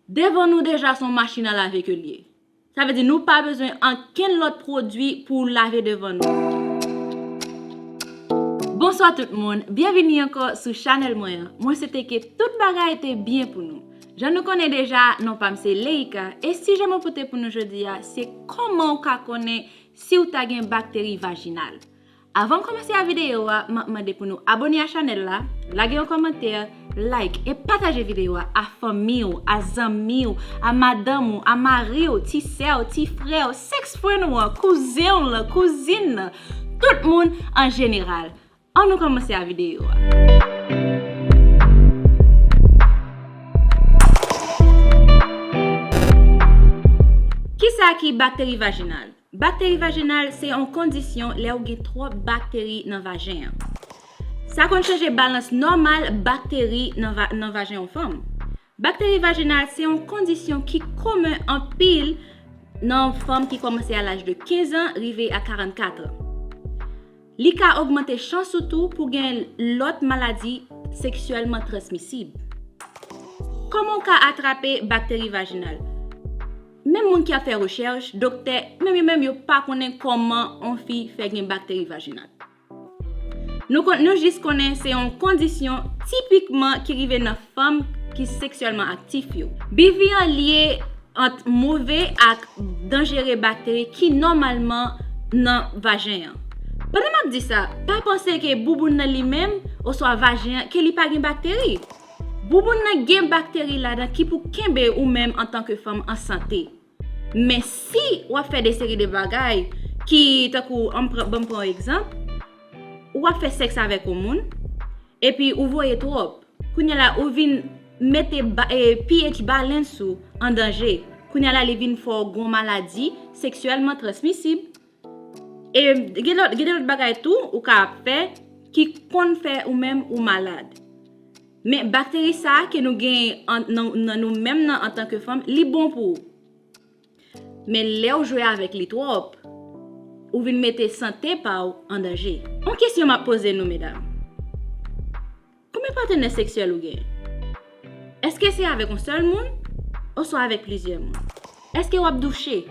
Devan nou deja son machin a lave ke l ye. Sa vle di nou pa bezwen ankenn lòt pwodwi pou w lave devan nou. Bonswa tout moun, byenvini ankò sou chanèl mwen an. Mwen swete ke tout bagay te byen pou nou. Jan nou konnen deja, non pa m se Leïka, e sijè mwen pote pou nou jodi a se kòman ou ka konnen si w ta gen bakteri vajinal. Avan m komanse a videyo a, m ap mande pou nou abone a chanèl la, lage yon kòmantè, like e pataje videyo a a fanmi w, a zanmi w, a madanm ou, a mari w, ti sè w, ti frè w, sèks fren ou an, kouzen w lan, kouzin nan, tout moun an jeneral. An nou komanse a videyo a. Kisa ki bakteri vajinal? Bakteri vajenal se yon kondisyon lè ou gen twòp bakteri nan vajen an. Sa konn chanje balans nòmal bakteri nan vajen yon fanm. Bakteri vajenal se yon kondisyon ki komen anpil nan fanm ki kòmanse a laj de 15 an rive a 44 an. Li ka ogmante chans ou tou pou gen lòt maladi seksyèlman transmisib. Kòman ou ka atrape bakteri vajenal? Menm moun ki ap fè rechèch, doktè, menm yo menm yo pa konnen kòman on fi fè gen bakteri vajinal. Nou kon, nou jis konnen se on kondisyon tipikman ki rive nan fanm ki seksyèlman aktif yo. BV an lye ant move ak danjere bakteri ki nòmalman nan vajen an. Pandan m ap di sa, pa panse ke bouboun nan li menm, oswa vajen an, ke li pa gen bakteri. Bouboun nan gen bakteri ladan ki pou kenbe ou menm antanke fanm an sante. Men si w ap fè de seri de bagay ki tankou banm pran yon egzanp, ou ap fè sèks avèk yon moun, epi ou voye twòp, kounye la ou vin mete pH balance ou an danje, kounye la li vin fè w gen yon maladi seksyèlman transmisib. E gen lòt gen de lòt bagay tou ou ka ap fè ki konn fè ou menm ou malad. Men bakteri sa ke nou gen an nan nan nou menm nan antanke fanm li bon pou ou. Men lè ou jwe avèk li twòp, ou vin mete sante pa ou an danje. On kesyon m ap poze nou medam. Konbyen patenè seksyèl ou genyen? Eske se avèk yon sèl moun oswa avèk plizyè moun? Eske wap douche?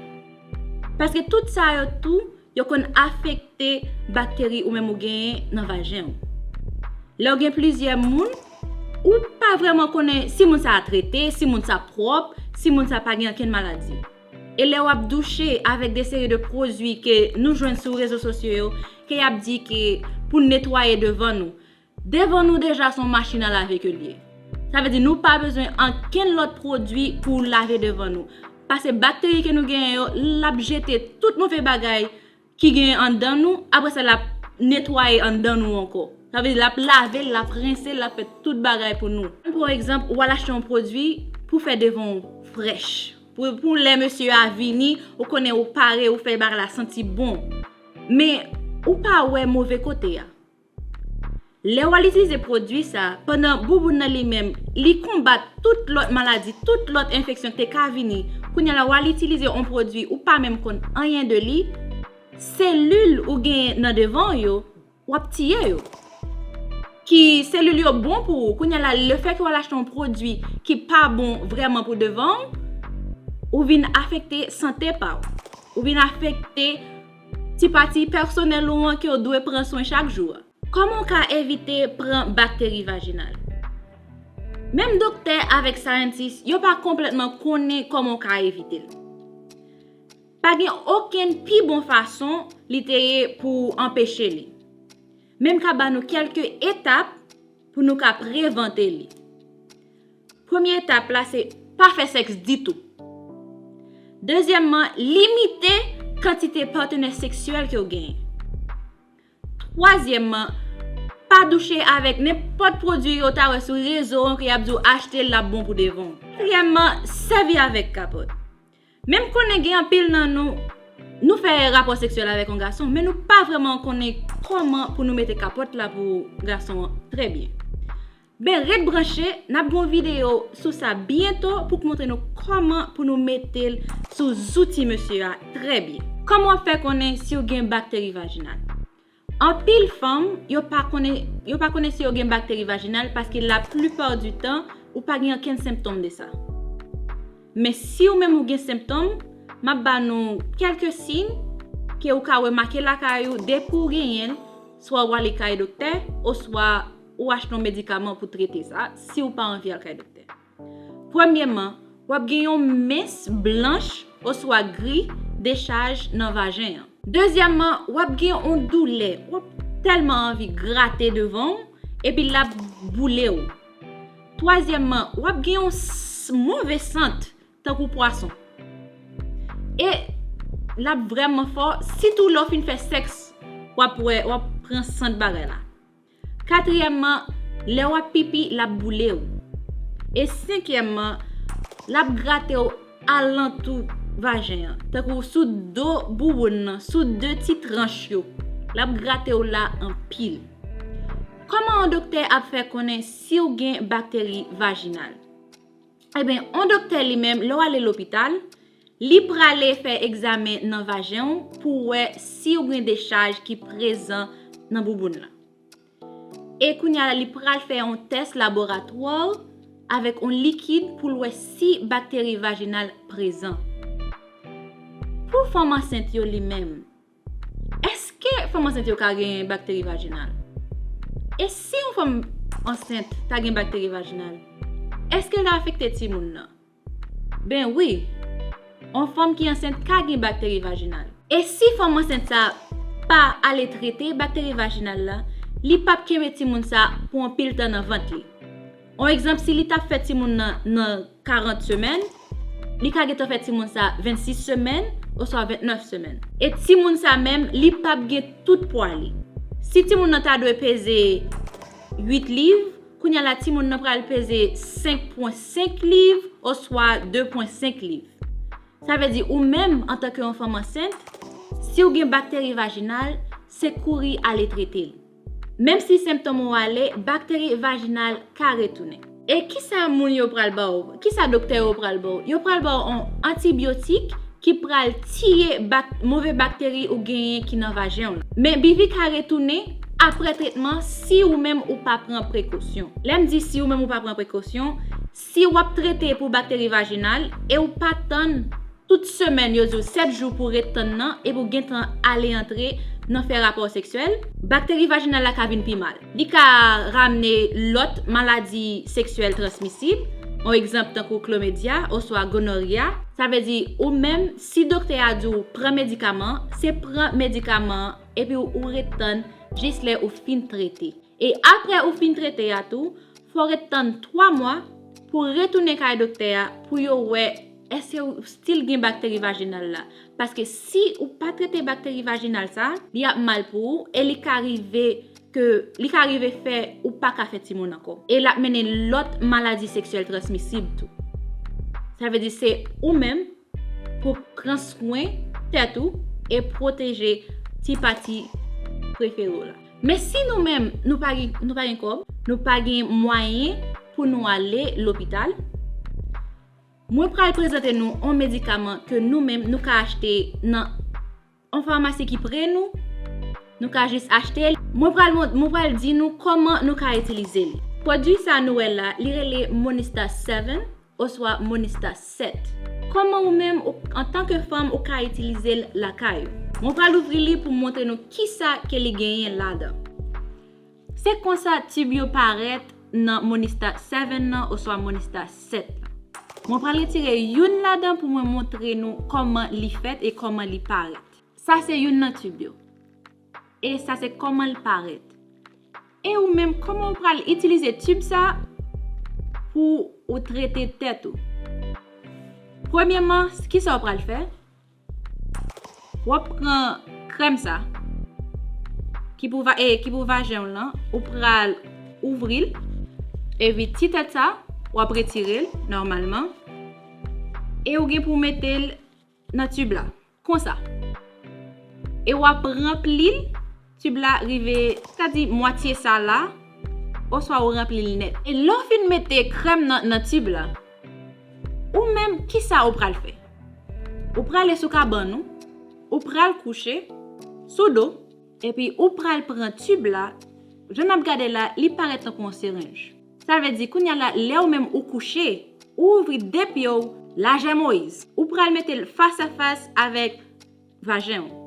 Paske tout sa yo tou yo konn afekte bakteri ou menm ou genyen nan vajen ou. Lèw gen plizyè moun, ou pa vrèman konnen si moun sa a trete, si moun sa pwòp, si moun sa pa gen ankenn maladi. E lè wap douche avèk de seri de pwodui ke nou jwenn sou rezo sosyo yo ke yap di ke pou netwaye devan nou, Devan nou deja son machin a lave ke l ye. Sa vle di nou pa bezwen ankenn lòt pwodwi pou lave devan nou. Pase bakteri ke nou genyen yo, l ap jete tout move bagay ki genyen anndan nou, apre sa l ap netwaye anndan nou ankò. Sa vle di l ap lave l, l ap rense l, l ap fè tout bagay pou nou. Pran pou egzanp, ou al achte yon pwodwi pou fè devan w frèch. Pou lè mesye a vini, ou konnen ou pare, ou fè bagay la santi bon. Men, ou pa wè move kote a. Lè w al itilize pwodui sa, pandan bouboun nan li menm, li konbat tout lòt maladi, tout lòt enfeksyon te ka vini, kounya la w al itilize on pwodui ou pa menm konn anyen de li, selil ou genyen nan devan w yo, w ap tiye yo. Ki selil yo bon pou ou, kounya la le fè ke w al achte on pwodui ki pa bon vrèman pou devan w, ou vin afekte sante pa w. Ou vin afekte. Ti pati pèsonèl ou an ke w dwe pran swen chak jou a. Kòman w ka evite pran bakteri vajinal? Menm doktè avèk syantis yo pa konplètman konnen kòman w ka evite l. Pa gen okenn pi bon fason li te ye pou w anpeche li. Men m ka ba nou kèlke etap pou nou ka prevante li. Premye etap la se pa fè sèks ditou. Dezyèmman, limite kantite patenè seksyèl ke ou genyen. Twazyèmman, pa douche avèk nenpòt pwodui yo ta wè sou rezo an ke y ap di w achte l ap bon pou devan w. Katriyèmman, sèvi avèk kapòt. Men m konnen gen anpil nan nou, nou fè rapò seksyèl avèk yon gason men nou pa vrèman konnen kòman pou nou mete kapòt la pou gason an trè byen. Ben ret branche, nap gen yon video sou sa byento pou k montre nou koman pou nou mete l sou zouti mesye a trè byen. Kòman wap fè konnen siw gen bakteri vajinal? Anpil fanm yo pa konnen yo pa konnen si yo gen bakteri vajinal paske la plupart du tan ou pa gen ankenn senptom de sa. Men siw menm ou gen senptom, map ba nou kèlke siy ke ou ka remake lakay ou depi ou genyen l swa wale kay doktè oswa ou achte yon medikaman pou trete sa si ou pa anvi al kay doktè. Premyeman, w ap gen yon mens blanch oswa gri dechaj nan vajen an. Dezyèmman, w ap gen yon doulè, w ap tèlman anvi grate devan ou epi l ap boule ou. Twazyèmman, w ap gen yon move sant tankou pwason. E l ap vrèman fò, sitou lè w fin fè sèks w ap pran sant bagay la. Katriyèmman, lè w ap pipi, l ap boule w. E senkyèmman, l ap grate w alantou vajen an, tankou sou do bouboun nan, sou de ti tranch yo. L ap grate w la anpil. Kòman yon doktè ap fè konnen si w gen bakteri vajinal? Eben, yon doktè li menm, lè w ale lopital, Li prale fè egzamen nan vajen ou pou wè si ou gen dechaj ki prezan nan bouboun lan. E kounya la li pral fè yon tès laboratwa avèk yon likid pou l wè si bakteri vajinal prezan. Pou fanm ansent yo li menm, èske fanm ansent yo ka gen bakteri vajinal? E si yon fanm ansent ta gen bakteri vajinal, èske l ta afekte timoun lan? Ben wi! On fanm ki ansent ka gen bakteri vajinal. E si fanm ansent sa pa ale trete bakteri vajinal la, li p ap kenbe timoun sa pou anpil tan nan vant li. On egzanp, si li t ap fè timoun nan nan 40 semèn, li ka gentan fè timoun sa 26 semèn oswa 29 semèn. E timoun sa menm, li p ap gen tout pwa li. Si timoun nan ta dwe peze 8 liv. Kounya la timoun nan pral peze 5.5 liv oswa 2.5 liv. Sa vle di ou menm antanke yon fanm ansent, si ou gen bakteri vajinal, se kouri ale trete l. Menm si senptom ou ale, bakteri vajinal ka retounen. E kisa moun yo pral ba w? Kisa doktè yo pral baw? Yo pral baw on antibiotik ki pral tiye move bakteri ou genyen ki nan vajenw lan. Men BV ka retounen apre tretman si ou menm ou pa pran prekosyon. Lèm di si ou menm ou pa pran prekosyon, si wap trete pou bakteri vajinal e ou pa tann tout semèn yo diw 7 jou pou ret tann nan epi ou gentan ale antre nan fè rapò seksyèl, bakteri vajinal la ka vin pi mal. Li ka ramne lòt maladi seksyèl transmisib, yon egzanp tankou klomedya oswa gonorya. Sa vle di ou menm si doktè a di w pran medikaman, se pran medikaman an epi ou ret tann jis lè ou fin trete. E aprè ou fin trete a tou, fò w ret tann 3 mwa pou w retounen kay doktè a pou yo wè èske ou stil gen bakteri vajinal la. Paske si ou pa trete bakteri vajinal sa, li ap mal pou ou e li ka rive. ke li ka rive fè ou pa ka fè timoun ankò. E l ap mennen lòt maladi seksyèl transmisib tou. Sa vle di se ou menm pou pran swen tèt ou e pwoteje ti pati prefere w la. Men si nou menm nou pa gen kòb, nou pa gen mwayen pou nou ale lopital, mwen pral prezante nou on medikaman ke nou menm nou ka achte nan On famasi ki pre nou, nou ka jis achte li. Mwen pral mont, mwen pral di nou kòman nou ka itilize li. Pwodui sa nou wè la, li rele Monista 7, oswa Monista 7. Kòman ou menm, ou, antanke fanm, ou ka itilize l lakay ou. Mwen pral ouvri li pou montre nou kisa ke li genyen ladan. Se konsa tib yo parèt nan Monistat 7 lan oswa Monistat 7 lan. Mwen pral retire youn ladan pou mwen montre nou kòman li fèt e kòman li parèt. Sa se youn nan tib yo. E sa se kòman l parèt. E ou menm kòman ou pral itilize tib sa pou ou trete tèt ou. Premyeman, kisa ou pral fè? Wap pran krèm sa Ki pou vajen w lan Ou pral ouvril Epi ti tèt sa Wap retirel nòmalman E ou gen pou metel Nan tube la Konsa E wap ranplil Tube la rive, ta di mwatye sa la, oswa ou ranpli l nèt. E lè w fin mete krèm nan nan tube la, ou menm ki sa ou pral fè? Ou prale sou kabann ou, ou pral kouche sou do, epi ou pral pran tube la, jan n ap gade la, li parèt tankou yon serenj. Sa vle di, kounya la, lè ou menm ou kouche, ou ouvri de pye w lajè Moyiz, ou pral mete l fas a fas avèk vajen ou.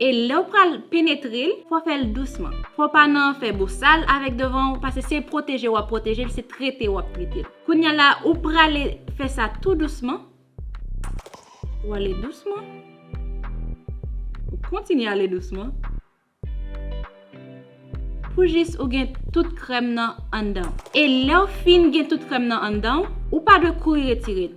E lè ou pral penetre l, fò fè l dousman. Fò pa nan fè bosal avèk devan ou pase se pwoteje w ap pwoteje l, se trete w ap trete l. Kounya la ou prale fè sa tou dousman. Ou ale dousman. Ou kontinye ale dousman. Pou jis ou gen tout krèm nan anndan w. E lè w fin gen tout krèm nan anndan w, ou pa dwe kouri retire l.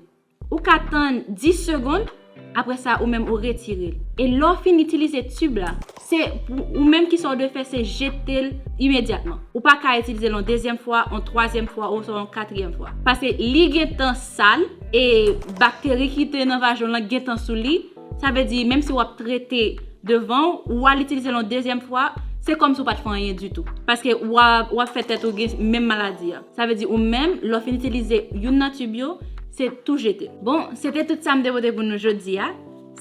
Ou ka tann 10 segond, apre sa ou menm ou retire l. E lè w fin itilize tib la, se pou ou menm ki sa w dwe fè se jete l imedyatman. Ou pa ka itilize l yon dezyèm fwa, yon twazyèm fwa oswa yon katriyèm fwa. Paske li gen tan sal e bakteri ki te nan vajan w lan gen tan sou li. Sa vle di, menm si wap trete devan ou, ou al itilize l yon dezyèm fwa, se kòm si ou pat fè anyen ditou. Paske wap fè tèt ou gen menm maladi a. Sa vle di ou menm, lè w fin itilize youn nan tube yo, se tou jete. Bon, se te tout sa m te pote pou nou jodi a.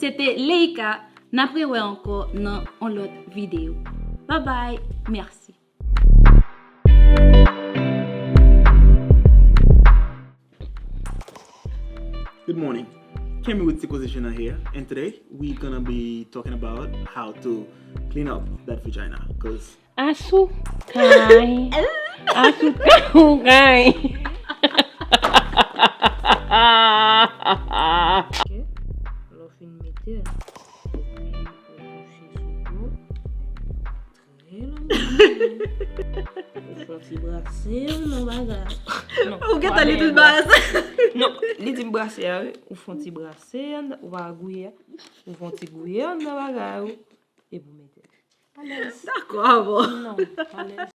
Se te Leïka, n ap re wè ankò nan yon lòt videyo. Babay, mèsi. Good morning, Kemi with Sikoze Journal here and today we gonna be talking about how to clean up that vagina cause Asou kay Asou kay Ou gen tan li tout ba sa. Non, li di m brase a wi. Ou fon ti brase an, ou pa wè gouye a. Ou fon ti gouye an nan bagay ou. E pou mete. Alèz. Dakò avè w. Non, alèz.